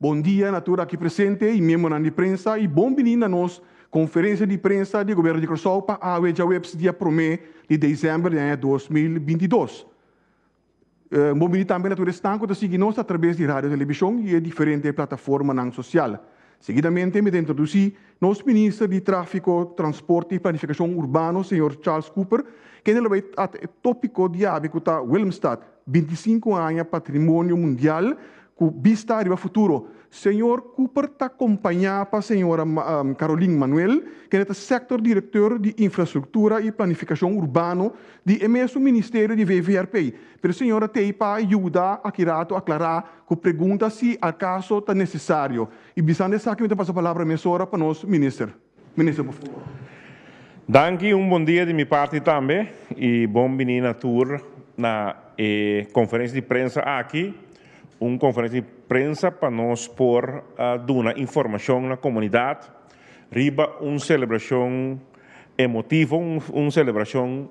Bon dia na tur aki presente y miembronan di prensa y bon bini na nos Conferencia di Prensa di Gobierno di Curaçao pa awe djaweps dia prome di December di aña dos mil binti dos. Un bon bini tambe na tur esnan cu ta sigui nos atraves di radio television y e diferente plataformanan social. Seguidamente mi ta introduci nos Minister di Trafico, Transporte y Planificacion Urbano, señor Charles Cooper, kende lo bay trata e topico diabi cu ta Willemstad, binti sinku aña Patrimonio Mundial cu bista riba futuro. Señor Cooper ta compaña pa señora Caroline Manuel, kende ta Sector Directeur di Infrastructura y Planificacion Urbano di e mesun Ministerio di VVRP. Pero señora Teypa a yuda aki rato aclara cu pregunta si acaso ta necesario. Y bisando esaki mi ta pasa palabra mesora pa nos Minister. Minister por favor. Danki, un bon dia di mi parti tambe y bon bini na tur na e conferencia di prensa aki, un conferencia di prensa pa nos por duna informacion na comunidad riba un celebracion emotivo, un celebracion.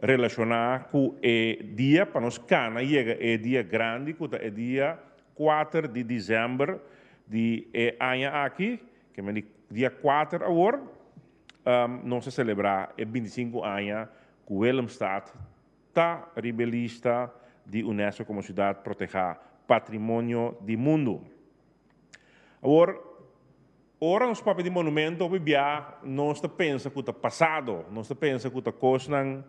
Relacioná cu e dia pa nos cana yega e dia grandi cu ta e dia cuater di December di e aña aki, ke men di dia cuater awor, nos ta celebrá e binti sinku aña cu Willemstad ta riba e lista di UNESCO como Ciudad Protegá, Patrimonio di Mundo. Awor. Ora nos papia di monumento hopi bia nos ta pensa ku ta pasado, nos ta pensa ku ta kosnan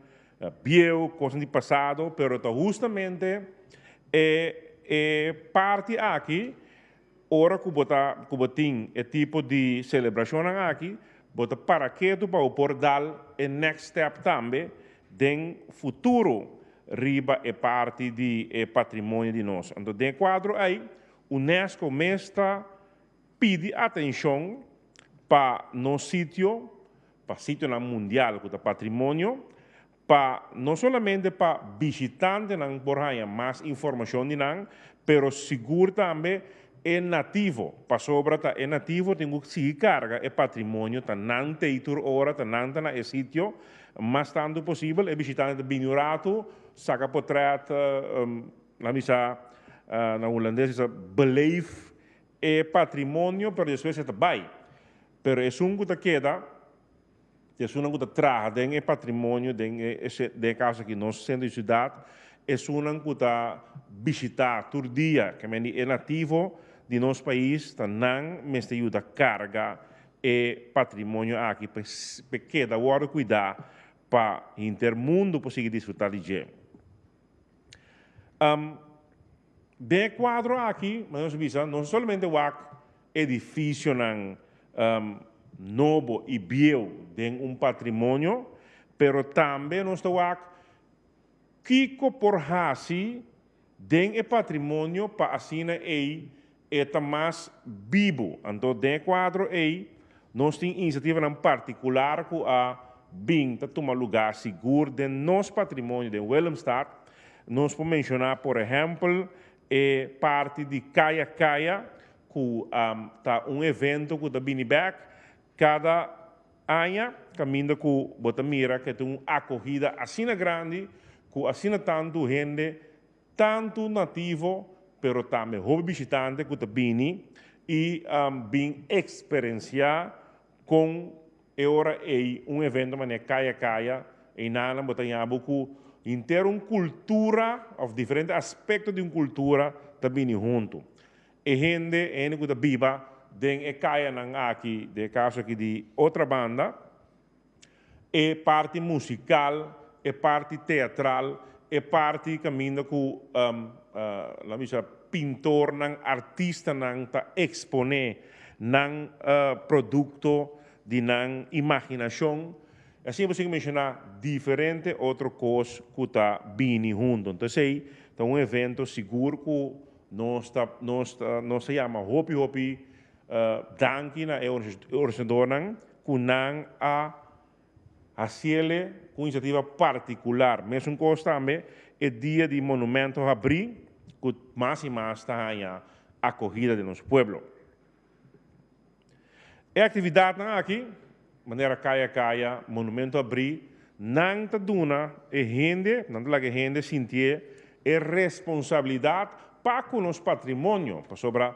bieu, kosnan di pasado, pero ta hustamente e e parti aki ora ku bo ta ku bo tin e tipo di selebrashonnan aki bo ta para ketu pa bo por dal e next step tambe den futuro riba e parti di e patrimonio di nos. Anto den e kuadro ei UNESCO mes ta Pidi atencion pa nos sitio, pa sitionan mundial cu ta patrimonio, pa no solamente pa bishitantenan por haya mas informacion di nan, pero sigur tambe e nativo, pasobra ta e nativo tin cu sigui carga e patrimonio, ta nan teitur ora, ta nan ta na e sitio, mas tanto posibel e bishitante ta bini un ratu, saca potret, lami sa na Hulandes disa beleef. E patrimonio pero despues e ta bai. Pero esun ku ta keda, di esunnan ku ta traha den e patrimonio den den e kaso aki nos sentro di siudat, esunnan ku ta bishitá tur dia, ke men di e nativo di nos pais ta nan mester yuda karga e patrimonio aki pa e keda wòrdu kuidá pa hinter mundu por sigui disfrutá di dje. Am, den e kuadro aki, nos a bisa, nos no solamente wak edifisionan am, nobo i bieu den un patrimonio, pero tambe nos ta wak kiko por hasi den e patrimonio pa asina ei E ta mas bibu. Anto den e kuadro ei nos tin inisiativanan partikular ku a bin ta tuma lugá sigur den nos patrimonio den Willemstad. Nos por menshoná por ehèmpel e parti di Kaya Kaya ku ta un evento ku ta bini bèk kada aña kaminda ku bo ta mira ku e ta un akohida asina grandi ku asina tantu hende tantu nativo pero tambe hopi bishitante ku ta bini i bin eksperensiá kon e ora ei un evento manera Kaya Kaya einanan bo ta haña bo ku henter un kultura òf diferente aspekto di un kultura ta bini huntu. E hende e hende ku ta biba den e kayanan aki den e kaso aki di Otrabanda, e parti musikal, e parti teatral, e parti kaminda ku la mi sa pintornan, artistanan ta eksponé nan produkto di nan imaginashon. I asin bo sigue menshoná diferente otro kos ku ta bini huntu. Enton esei ta un evento sigur ku nos ta nos ta nos ta yama hopi hopi danki na e organisadornan. ku nan a hasiele ku inisiativa partikular. Mesunkos tambe e dia di monumento habrí ku mas i mas ta haña akohida den nos pueblo. E aktividatnan aki, manera kaya kaya, monumento habrí, nan ta duna e hende, nan ta laga e hende sintié e responsabilidat pa ku nos patrimonio, pasobra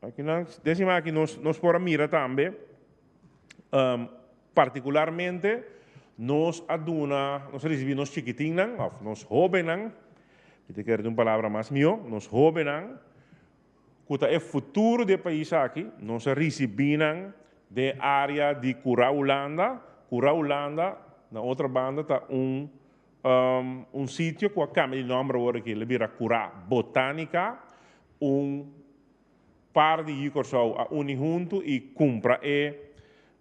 Akinan, desima aki nos, nos por a mira tambe, um, particularmente, nos a duna, nos a recibi nos chikitinnan, of nos hobennan, mi te kere di un palabra mas mio, nos hobennan, ku ta e futuro di e pais aki, nos a ricibi nan den area di Cura Hulanda, Cura Hulanda na otro banda ta un Un sitio cu a cambia di nomber awor aki, lo bira Cura Botanica. Un par di yu Corsou a uni hunto y cumpra e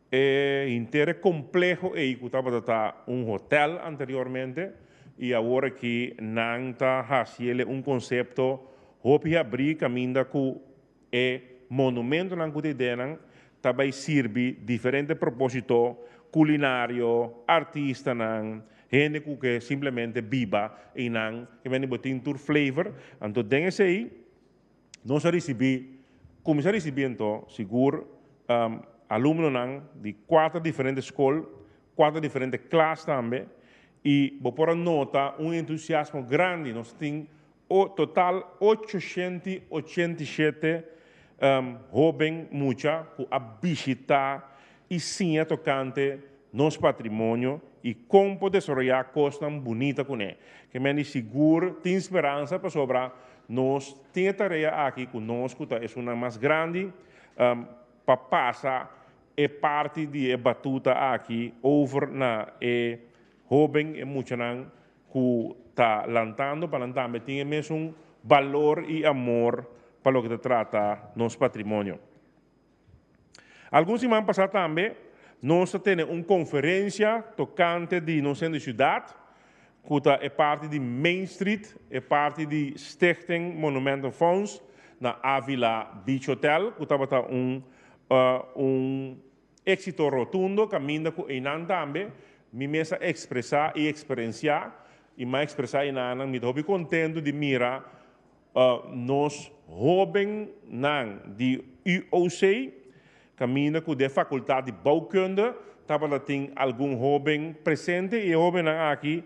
henter e compleho ey cu tabata ta un hotel anteriormente y awor aki nan ta haciele un concepto hopi habri caminda cu. E monumentonan ku ta ideanan ta bai sirbi diferente propósito, kulinario, artistanan, hende ku ke simplemente biba einan i mende bo tin tur flavor. Anto den esei nos a risibí, kuminsá a risibí anto sigur alumnonan di kuater diferente skol, kuater diferente klas tambe i bo por a nota un entusiasmo grandi. Nos tin o total ocho shenti ochenta i shete hóben mucha ku a bishitá i siña tokante nos patrimonio i kon por desaroyá kosnan bunita kuné. Ke men di sigur tin speransa pasobra nos tin e tarea aki ku nos ku ta esunnan mas grandi pa pasa e parti di e batuta aki over na e hóben, e muchanan cu ta lantando pa nan tambe tin e mesun balor y amor pa loke ta trata nos patrimonio. Algun siman pasa tambe nos ta tene un conferencia tocante di nos hende ciudad cu ta e parti di Main Street, e parti di Stichting Monumenten Fonds na Avila Beach Hotel cu tabata un Éxito rotundo kaminda ku einan tambe. Mi mes a ekspresá i eksperensiá i m'a ekspresá einannan mi ta hopi kontentu di mira nos hóbennan di UOC kaminda ku den Fakultat di Bouwkunde tabata tin algun hóben presente i e hóbennan aki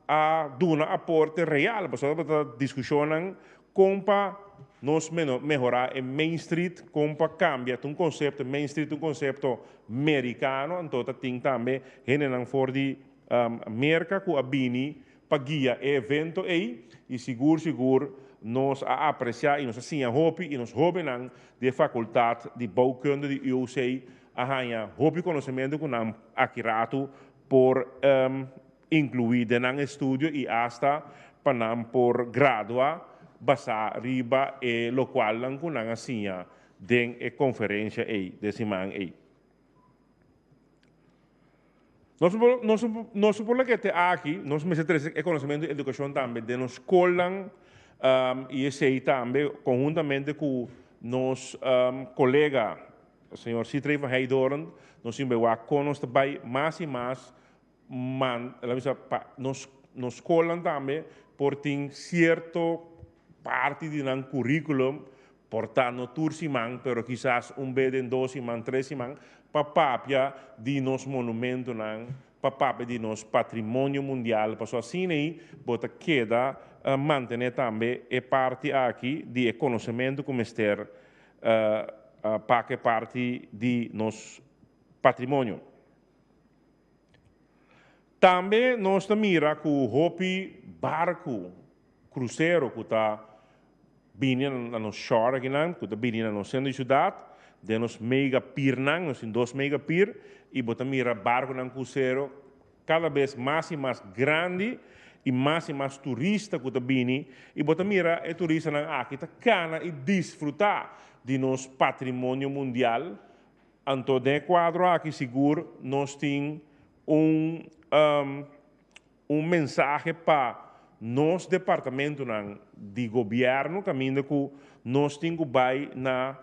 a duna aporte real. Pasobra tabata diskushonnan Kon pa nos mehorá e Main Street, kon pa kambia, ta un konsepto, Main Street ta un konsepto merikano, anto ta tin tambe hendenan for di Merka ku a bini pa guia e evento ei i sigur sigur nos a apresiá i nos a siña hopi i nos hóbennan di e Fakultat di Bouwkunde di UOC a haña hopi konosementu ku nan aki ratu por inclui den nan estudio y hasta pa nan por gradua basa riba e locualnan cu nan a siña den e conferencia ey den siman ey. Nos no por laga te aki, nos mester trece e conocimiento y educacion tambe den nos scolnan y esey tambe conhuntamente cu nos colega señor Sitrey van Heydoorn nos tin bay wak con nos ta bay mas y mas man laminsa pa nos skolnan tambe por tin sierto parti di nan curriculum por ta no tur siman pero kisas un be den dos siman tres siman pa papia di nos monumentonan pa papia di nos patrimonio mundial pasobra asina ei bo ta keda mantene tambe e parti aki di e conocemento cu mester paca e parti di nos patrimonio. Tambe nos ta mira ku hopi barku, krusero ku ta bini na nos shore akinan, ku ta bini na nos sentro di siudat, den nos mega pirnan, nos tin dos mega pir, i bo ta mira barkunan krusero kada bes mas i mas grandi i mas i mas turista ku ta bini, i bo ta mira e turistanan aki ta kana i disfrutá di nos patrimonio mundial. Anto den e kuadro aki sigur nos tin un un mensahe pa nos departamentunan di gobièrnu kaminda ku nos tin ku bai na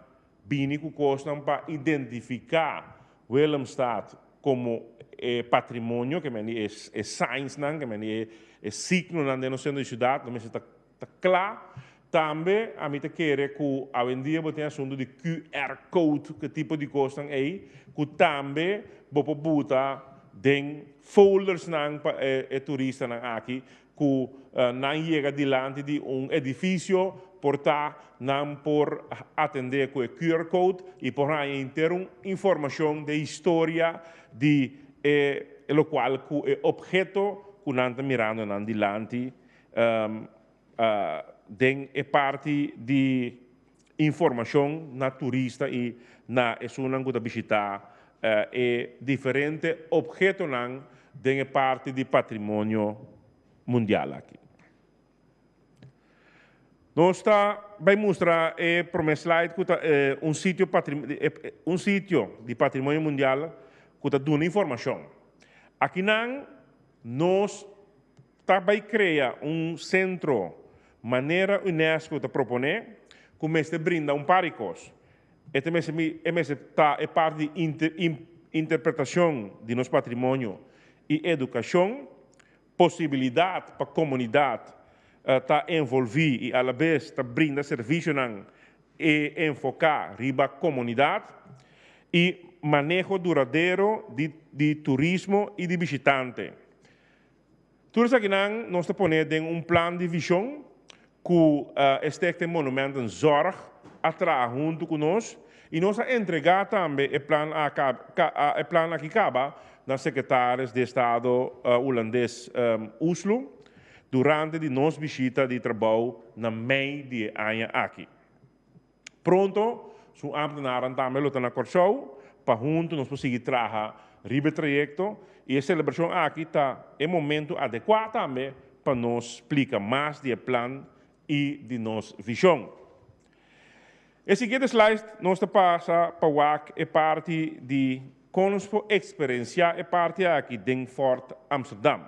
bini ku kosnan pa identifiká Willemstad komo e patrimonio ke mende e signsnan ke mende e signonan den nos sentro di siudat lo mester ta Ta cla. Tambe ami ta kere cu awendia bo tin asunto di QR code cu e tipo di cosnan ey cu tambe bo por buta den foldersnan pa e turistanan aki cu nan yega dilanti di un edificio por ta nan por atende cu e QR code y por haña henter un informacion di e historia di e locual cu e obheto cu nan ta mirando nan dilanti Den e parti di informashon na turista i na esunnan ku ta bishitá e diferente obhetonan den e parti di patrimonio mundial aki. Nos ta bai mustra e promé slide ku ta un sitio un sitio di patrimonio mundial ku ta duna informashon. Akinan nos. Ta bai krea un sentro manera Unesco ta proponé ku mester brinda un par di kos. E ta mester mi, e mester ta e parti di inter, im, interpretashon di nos patrimonio i edukashon, posibilidat pa komunidat ta envolví i alabes ta brinda servisionan e enfoká riba komunidat i maneho duradero di di turismo i di bishitante. Tur esakinan nos ta pone den un plan di vision cu e Stichting Monument en Zorg a traha hunto cu nos y nos a entrega tambe e plan e plan aki caba na Secretaris di Estado Hulandes Oesloe durante di nos bishita di trabao na mei di e aña aki. Pronto su ambtenaran tambe lo ta na Kòrsou pa huntu nos por sigui traha riba e trayekto i e selebrashon aki ta e momentu adekuá tambe pa nos splika mas di e plan i di nos vishon. E siguiente slide nos ta pasa pa wak e parti di kon nos por eksperensiá e parti aki den Fort Amsterdam.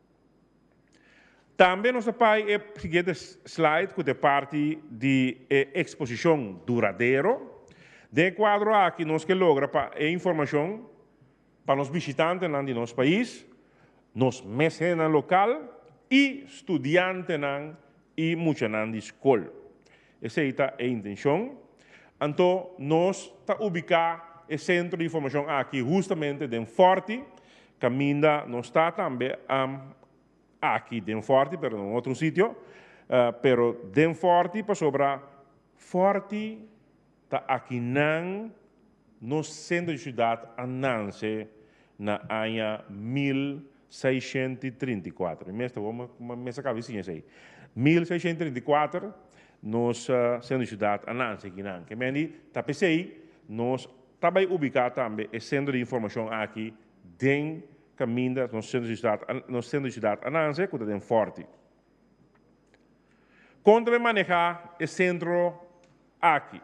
Tambe nos ta pai e siguiente slide cu ta e parti di e exposicion duradero. Den e cuadro aki nos ke logra pa e informacion pa nos bishitantenan di nos pais, nos mes hendenan local y studiantenan y muchanan di scol. Esei ta e intencion. Anto nos ta ubica e centro di formacion aki hustamente den Forti, caminda nos ta tambe aki den Forti pero na un otro sitio, pero den Forti pasobra Forti Ta aki nan nos centro di ciudad a nance na aña mil seishento i trinta i kuater. Mi mester wou ma mester caba e siña esey. Mil seishento i trinta i kuater nos centro di ciudad a nance aki nan. Ke mendi ta pesey nos ta bay ubica tambe e centro di informacion aki den caminda nos centro di ciudad a nance cu ta den Forti. Kon ta bai manehá e sentro aki?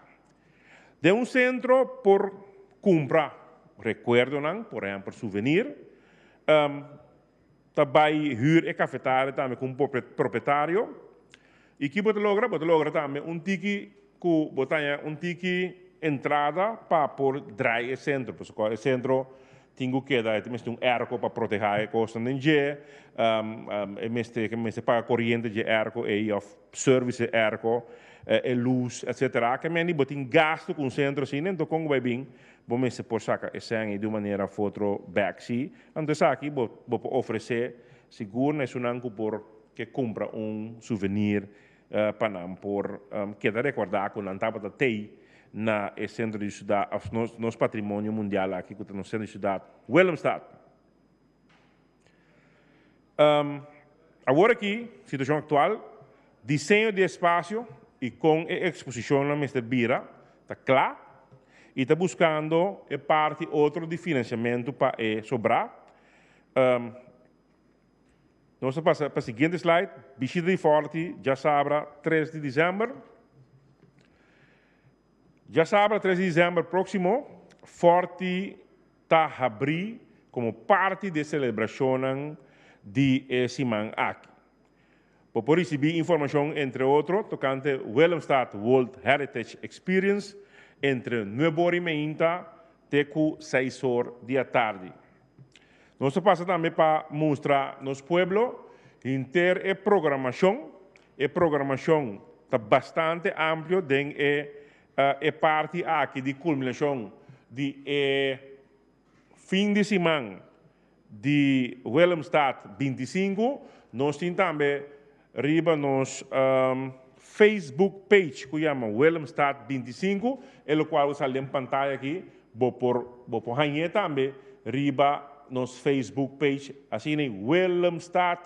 Den un sentro por kumpra rekuerdonan, por ehèmpel suvenir. Ta bai hür e kafetaria tambe ku un propietario. I ki bo ta logra? Bo ta logra tambe un tiki. Ku bo ta haña un tiki entrada pa por drai e sentro. Pasobra kua e sentro tin ku keda, e ta mester un èrko pa protehá e kosnan den dje. E mester ke mester paga koriente dje èrko ei òf sèrvis e èrko, e lus, etsetera. Aki ameni bo tin gastu ku un sentro asina, anto kon ku bai bin bo mester por saka e sèn ei di un manera òf otro bèk. Si anto esaki bo por ofresé sigur na esunnan ku por ke kumpra un suvenir pa nan por keda rekordá ku nan tabata tei na e sentro di siudat òf nos patrimonio mundial aki ku ta nos sentro di siudat Willemstad. Awor aki, situashon aktual, diseño di e spasio i kon e eksposishonnan mester bira ta kla i ta buskando e parti otro di finansiamentu pa e sobrá. Nos ta pasa pa siguiente slide. Bishita di Forti djasabra tres di disember. Djasabra tres di disember proximo Forti ta habri como parti di e celebracionnan di e siman aki. Bo por ricibi informacion entre otro tocante Willemstad World Heritage Experience entre nuebe ora y meinta te cu seis or di atardi. Nos ta pasa tambe pa mustra nos pueblo henter e programacion. E programacion ta bastante amplio den e e parti aki di culminacion di e fin di siman di Willemstad binti sinku. Nos tin tambe. Riba nos Facebook page cu yama Willemstad binti i sinku, e lo cual bo sali den pantaya aki, bo por bo por hañ'e tambe riba nos Facebook page asina Willemstad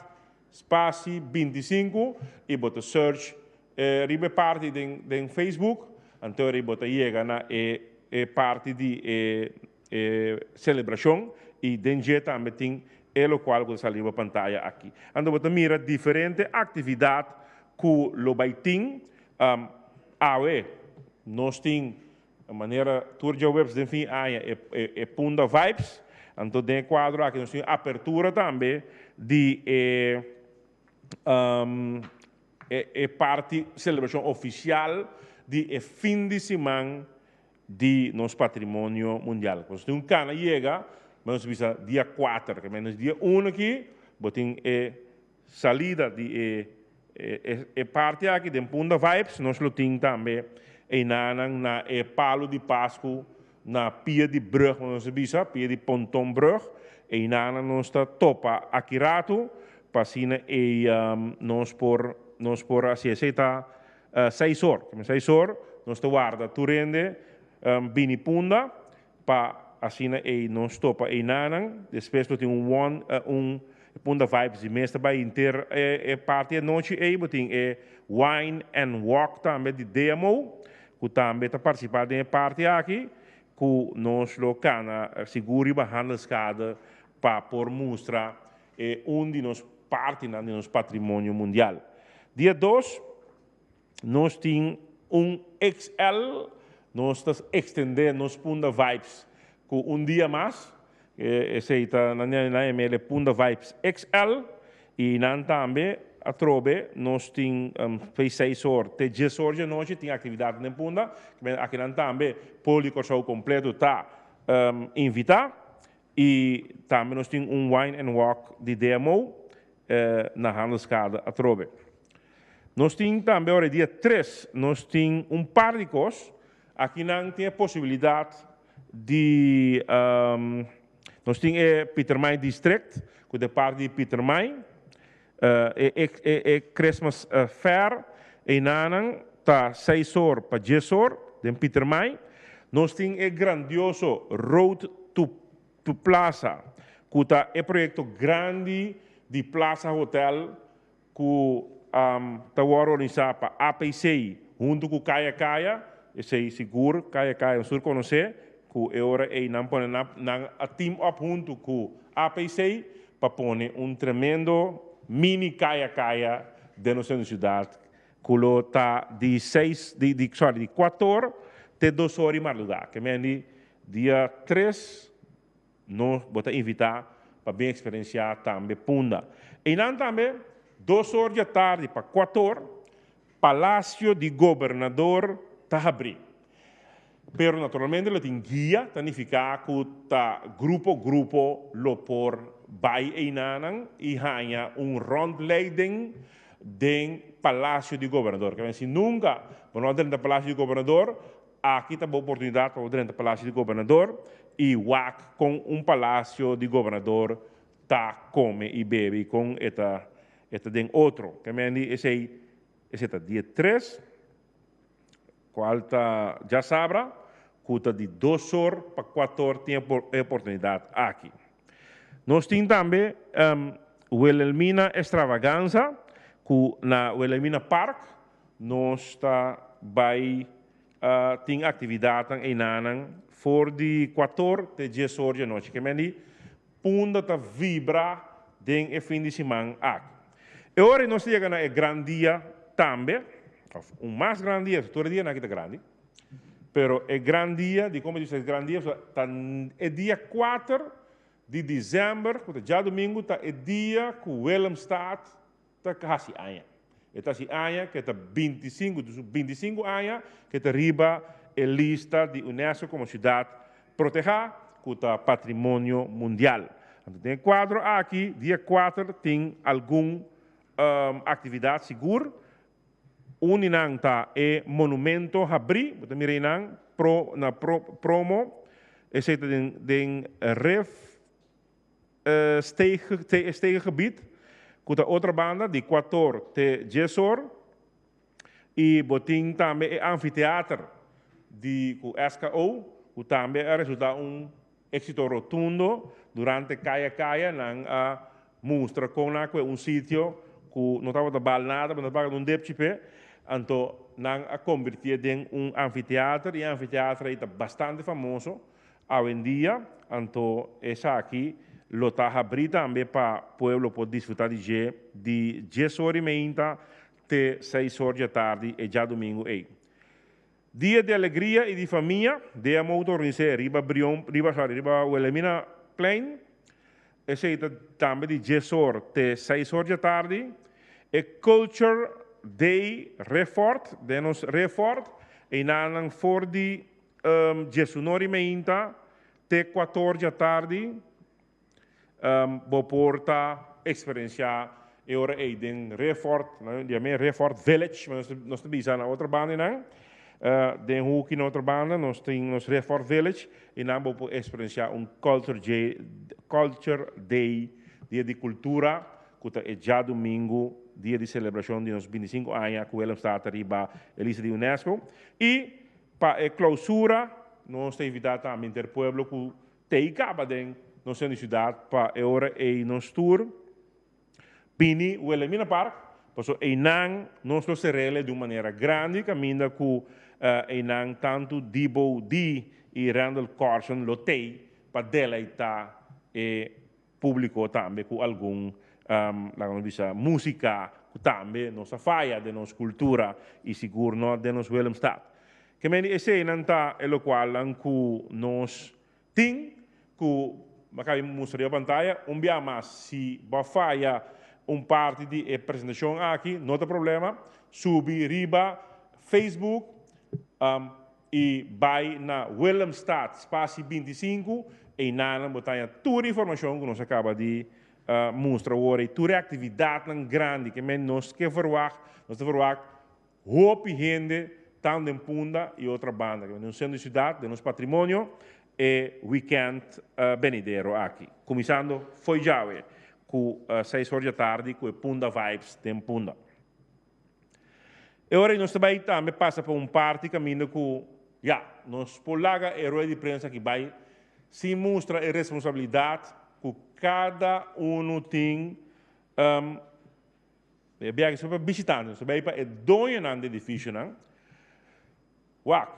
spaci binti i sinku y bo ta search riba e parti den den Facebook anto bo ta yega na e parti di e e celebracion y den dje tambe tin e locual cu ta sali riba pantaya aki. Anto bo ta mira diferente actividad cu lo bay tin awe nos tin manera tur djaweps den fin aña e Punda Vibes anto den e cuadro aki nos tin apertura tambe di e e parti celebracion oficial di e fin di siman di nos patrimonio mundial. Nos tin un cana yega, me nos bisa dia cuater, ke menos dia uno aki bo tin e salida di e e parti aki den Punda Vibes, nos lo tin tambe einanan na e palo di pascu na pia di brug, bo nos a bisa pia di Pontonbrug, einanan nos ta topa aki ratu pa asina ei nos por nos por hasi esei ta. Seis or, kima seis or, nos ta warda tur hende bini punda pa asina ei no stopa einanan. Despues lo tin un won, un punda vibes di mes ta bai hinter e parti anochi ei. Bo tin e Wine and Walk tambe di Deamo ku tambe ta partisipa den e parti aki ku nos lo kana sigur riba Handelskade pa por mustra. E un di nos partinan di nos patrimonio mundial. Dia dos, nos tin un XL, nos ta extende nos Punda Vibes cu un dia mas, esey ta nan di nan e mele Punda Vibes XL y nan tambe atrobe nos tin bay seis or te dies or dje nochi tin actividadnan den Punda, kimen aki nan tambe Poli Corsou completo ta invita Y tambe nos tin un wine and walk di DMO na Handelskade atrobe. Nos tin tambe ora e dia tres nos tin un par di kos, aki nan tin e posibilidad di nos tin e Pietermaai District ku ta e park di Pietermaai, E Christmas Fair einanan ta seis or pa dies or den Pietermaai. Nos tin e grandioso Road to to Plaza cu ta e proyecto grandi di Plaza Hotel cu ta worde organisa pa APC hunto cu Kaya Kaya. Esey sigur Kaya Kaya Sur conoce cu e ora ey nan pone nan a team up hunto cu APC pa pone un tremendo mini kaya kaya den nos hende siudat ku lo ta di seis di di sorry di kuat or te dos or di marduga ke mendi dia tres no bo ta invitá pa bin eksperensiá tambe punda einan tambe dos or di atardi pa kuat or Palasio di gobernador ta habrí. Pero naturalmente lo tin guia, ta nifiká ku ta grupo grupo lo por bai einanan i haña un rondleiding den palasio di gobernador. Ke bai si nunka bo no a drenta palasio di gobernador, aki ta bo oportunidat pa bo drenta palasio di gobernador i wak kon un palasio di gobernador. ta come y bebe y con e ta e ta den otro. Te mendi esey esey ta di e tres cual ta djasabra cu ta di dos or pa cuator tin e e oportunidad aki. Nos tin tambe Wilhelmina Extravaganza cu na Wilhelmina Park nos ta bay tin actividadnan einanan for di cuator te dies or di anochi. Te mendi Punda ta vibra den e fin di siman aki. E ora nos ta yega na e gran dia tambe, of un mas gran dia, pasobra tur e dianan aki ta grandi, pero e gran dia, di como dicido e gran dia, pasobra ta e dia kuater di december, cu ta djadomingo, ta e dia cu Willemstad ta kasi aña. E ta hasi aña ku e ta binti i sinku, dus binti i sinku aña ku e ta riba e lista di UNESCO komo siudat protehá ku ta patrimonio mundial. Anto den e kuadro aki dia kuater tin algun aktividat sigur. Un di nan ta e monumento habrí, bo ta mira einan na promo, esei ta den ref. e stege gebit ku ta otra banda di kuator te djesor i bo tin tambe e anfiteater di ku SKO ku tambe a resulta un éksito rotundo durante kaya kaya nan a mustra kon nan a kue un sitio ku no tabata bal nada pero nan paga un depchi p'e anto nan a kombertié den un anfiteater i e anfiteater ei ta bastante famoso Awendia, anto esaki lo ta habrí tambe pa pueblo por disfrutá di dje di dies ora i meinta te seis ora dje tardi e djadumingu ei. Dia di alegria i di famia, dea motor rinsé riba Brion, riba, sorry, riba Wilhelmina plein. Esei ta tambe di dies ora te seis ora dje tardi. E culture day refort, den nos refort, einanan for di Diesuno ori meinta te kuator dja tardi bo por ta eksperensiá e ora ei den Refort, nan diam'e Refort Village, nos ta nos ta bisa na otro bandanan, den hoki na otro banda nos tin nos Refort Village i nan bo por eksperensiá un Culture Jay Culture Day, Dia di Kultura, ku ta e djadumingu, dia di selebrashon di nos binti sinku aña ku Willemstad ta riba e lista di UNESCO i. Pa e Clausura nos ta invitá tambe henter pueblo ku ta ei kaba den nos hende siudat pa e ora ei nos tur bini Wilhelmina Park pasobra einan nos lo serele di un manera grandi kaminda ku einan tantu Dibow Dee i Randall Carson lo tei pa deleitá e Públiko tambe ku algun laga nos bisa músika ku tambe nos a faya den nos kultura i sigur nò den nos Willemstad. Ke men di eseinan ta e lokualnan ku nos tin ku bo kabi mustra riba pantaya un biaha mas. Si bo a faya un parti di e presentashon aki no ta problema, subi riba Facebook I bai na Willemstad, spasi bintisinku, einanan bo ta haña tur e informashon ku nos a kaba di mustra awor ei, tur e aktividatnan grandi ke men nos ke verwagt. Nos ta verwagt hopi hende tantu den Punda i otra banda ke men den sentro di siudat, den nos patrimonio e wikènt benidero aki. Kuminsando fo'i djawe ku seis hor djatardi ku e Punda Vibes den Punda. E ora ei nos ta bai tambe pasa pa un parti kaminda ku ya, nos por laga e rueda di prensa aki bai sin mustra e responsabilidat ku kada unu tin. E biaha aki so pa bishitante, nos ta bai pa e doñonan di edifisionan. Wak,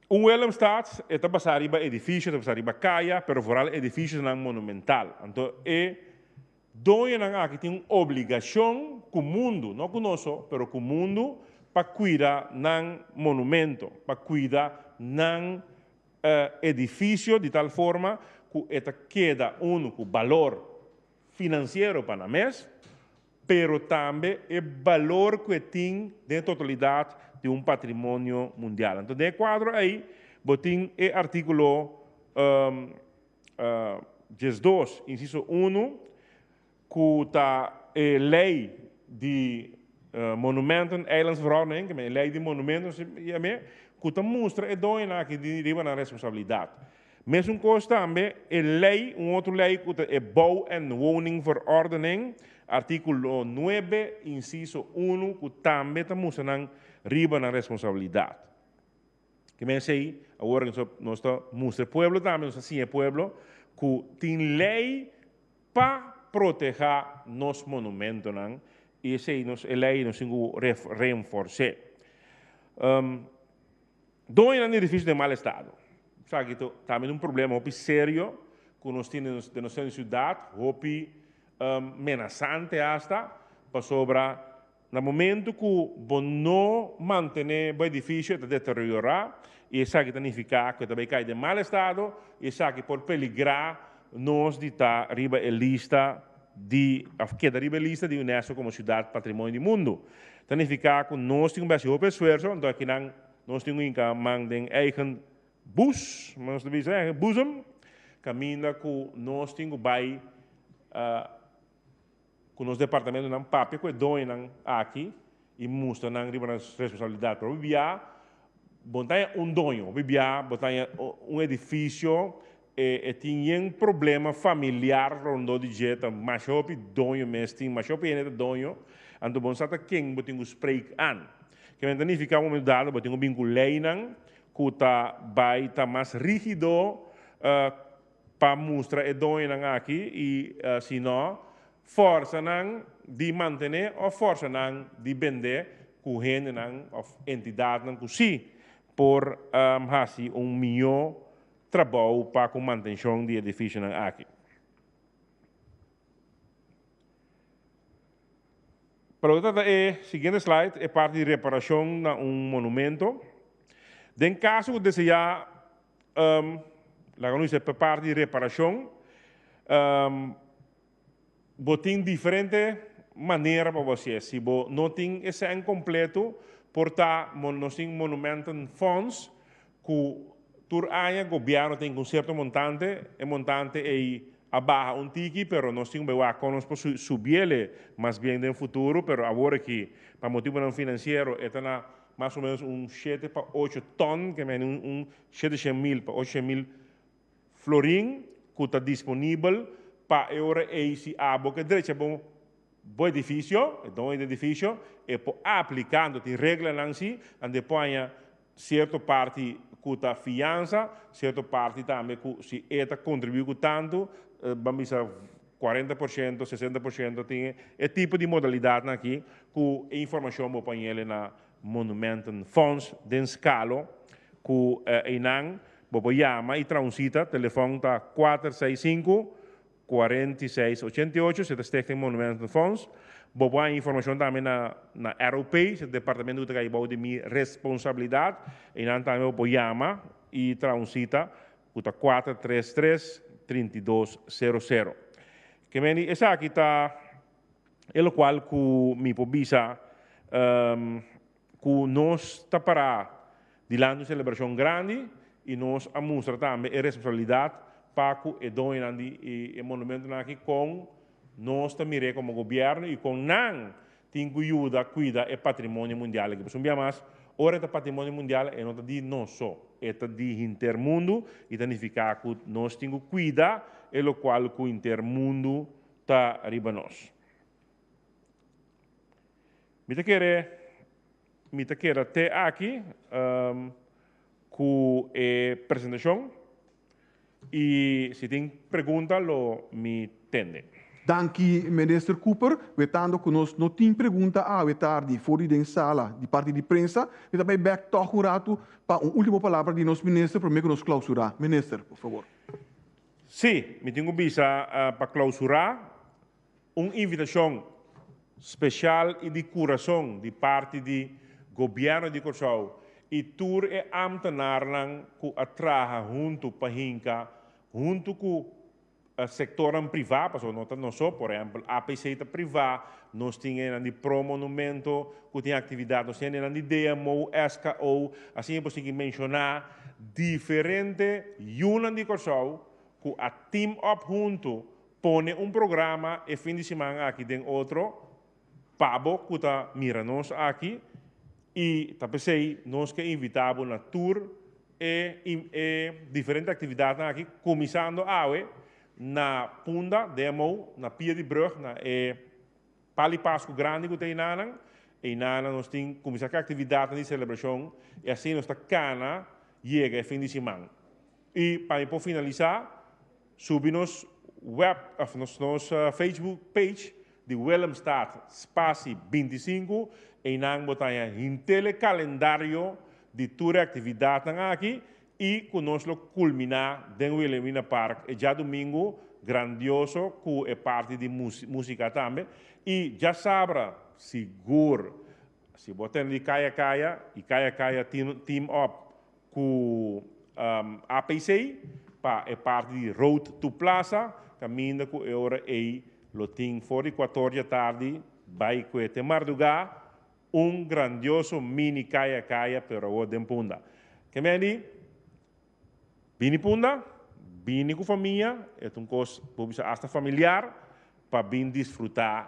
un Willemstad e ta basa riba edifisio, ta basa riba kaya, pero foral e edifisio nan monumental. Anto e Doñonan aki tin un obligacion cu mundu, no cu nos, pero cu mundu, pa cuida nan monumento, pa cuida nan edificio di tal forma cu e ta keda unu cu balor financiero pa nan mes, pero tambe e balor cu e tin den e totalidad di un patrimonio mundial. Anto den e cuadro ay bo tin e articulo diesdos, inciso unu, ku ta e lei di Monumenten, Eilandsverordening, e lei di monumentonan si i amé, ku ta mustra e doñonan aki di riba nan responsabilidat. Mesun kos tambe e lei, un otro lei ku ta e Bou en Woningverordening, artíkulo nuebe, inciso unu, ku tambe ta mustra nan riba nan responsabilidat. Ki mensei awor nos nos ta mustra e pueblo tambe nos ta siña e pueblo ku tin lei pa protehá nos monumentonan i esei nos e lei nos tin ku renfors'é. Doñonan di edifisio den mal estado esaki ta tambe un problema hopi serio ku nos tin den nos siudat hopi menasante asta pasobra Na momentu ku bo no mantené bo edifisio e ta deteriorá i esaki ta nifiká ku e ta bai kai den mal estado i esaki por peligrá nos di ta riba e lista di òf keda riba e lista di Unesco komo Siudat Patrimonio di Mundu. Ta nifiká ku nos tin ku bai hasi hopi esfuerso anto akinan nos tin un inka man den eigen bus, como nos ta bisa eigen boezem, kaminda ku nos tin ku bai cu nos departamentonan papia cu e doñonan aki y mustra nan riba nan responsabilidad. Pero bibia bo no taña un doño, bibia bo taña un edificio e tin yen problema familiar rondó di dje, ta masha hopi doño mes tin, masha hopi hende ta doño, anto bo no sa ta ken bo tin cu spreek aan. Kilamente ta nifica momento dado bo tin cu bin cu leynan cu ta bay ta mas rigido pa mustra e doñonan aki i si no forsanan di mantené òf forsanan di bendé ku hendenan òf entidatnan ku sí por hasi un mihó trabou pa ku mantenshon di edifishonan aki. Para lo trata e siguiente slide, e parti di reparashon na un monumentu. Den kaso ku deseá Laga nos e prepara di reparashon. Bo tin diferente manera pa bo hasi es. Si bo no tin esèn kompletu, por ta nos tin monumentum funds ku tur aña gobièrnu tin ku un sierto montante, e montante ei a baha un tiki pero nos tin un bewá kon nos por subiel e mas bien den futuro pero awor aki pa motibunan finansiero e ta na Mas o menos un shete pa ocho ton, ke mende un shete shen mil pa ocho shen mil florin ku ta disponibel pa e ora ei si abo ke drecha bo bo edifisio, e doño di edifisio, e por apliká. Anto tin reglanan si, anto e por haña sierto parti ku ta fiansa, sierto parti tambe ku si e ta kontribuí ku tantu, ban bisa. cuarenta por ciento, sesenta por ciento, tin e tipo di modalidadnan aki cu e informacion bo por hañel na Monumentenfonds den Scalo cu einan bo por yama y traha un cita, telefon ta kuater seis sinku, kuarenta i seis ochenta i ocho, se ta Stichting Monumentenfonds. Bo por haña informacion tambe na Arrow Pay, se ta departamento cu ta cay bou di mi responsabilidad, einan tambe bo por yama y traha un cita cu ta kuater tres tres trinta i dos sero sero. Ke meni esaki ta e lokual ku mi por bisa ku nos ta pará dilanti un selebrashon grandi i nos a mustra tambe e responsabilidat pa ku e doñonan di e monumentonan aki kon Nos ta mir'é komo gobièrnu i kon nan tin ku yuda kuida e patrimonio mundial aki. Pasobra un bia mas, ora e ta patrimonio mundial, e no ta di nos so, e ta di henter mundu i ta nifiká ku nos tin ku kuida e lokual ku henter mundu ta riba nos. Mi ta kere mi ta keda te aki ku e presentashon. Y si tin pregunta lo mi tende. Danki Minister Cooper, wetando cu nos no tin pregunta awe tardi for di den sala di parti di prensa, mi ta bay bek tog un ratu pa un ultimo palabra di nos Minister prome cu nos clausura. Minister, por favor. Sí, mi tin cu bisa pa clausura Un invitashon speshal i di kurason di parti di Gobièrnu di Kòrsou i tur e ámtenarnan ku a traha huntu pa hinka huntu ku sektornan privá, pasobra no ta nos so, por ehèmpel APC ta privá, nos tin e nan di Pro Monumento ku tin aktividat, nos tin e nan di DMO, SKO, asin e por sigui menshoná diferente yunan di Kòrsou ku a team up huntu pone un programa e fin di siman aki den otro pa bo ku ta mira nos aki i ta p'esei nos ke invitá bo na tur e e diferente aktividatnan aki kuminsando awe na Punda, Demou, na Pia di Brug na e pal di Pasku grandi ku ta einanan. Einanan nos tin kuminsá ku e aktividatnan di selebrashon i asina nos ta kana yega e fin di siman. I pa mi por finalisá. Subi nos web of nos nos Facebook page di Willemstad spasi binti sinku einan bo ta haña hintele kalendario di tur e aktividatnan aki i ku nos lo kulminá den Wilhelmina Park e djadumingu grandioso ku e parti di músika tambe i dja sabra sigur si bo tende di kaya kaya i kaya kaya team up ku APC pa e parti di Road to Plaza kaminda ku e ora ei lo tin for di kuator dja tardi bai kue te mardugá un grandioso mini kaya kaya pero awor den punda. Ke men di bini punda bini ku famia e ta un kos por bisa asta familiar pa bin disfrutá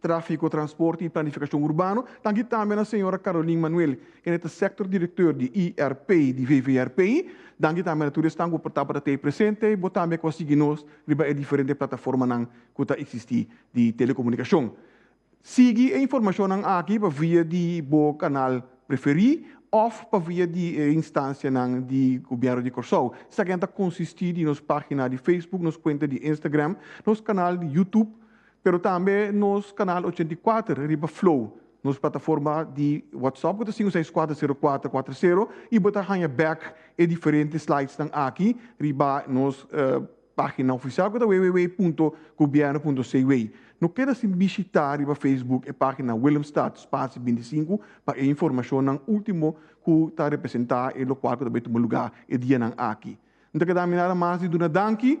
Tráfiko, Transporte i Planifikashon Urbano, tanti tambe na señora Carolyn Manuel, kende ta Sector Directeur di IRP di VVRP. Danki tambe na tur esnan ku por tabata t'ei presente, bo tambe ku a sigui nos riba e diferente plataformanan ku ta eksistí di telekomunikashon. Sigui e informashonnan aki pa via di bo kanal preferí òf pa via di e instansianan di Gobièrnu di Kòrsou, sa kian ta konsistí di nos página di Facebook, nos kuenta di Instagram, nos kanal di YouTube, pero tambe nos kanal ochenta i kuater riba Flow, nos plataforma di WhatsApp ku ta sinku seis kuater sero kuater kuater sero i bo ta haña bèk e diferente slidesnan aki riba nos página ofisial ku ta www punto gobièrnu punto cw. No keda sin bishitá riba Facebook e página Willemstad Spasie binti i sinku pa e informashonnan último ku ta representá e lokual ku ta bai tuma lugá e dianan aki. N ta keda aminada mas di duna danki.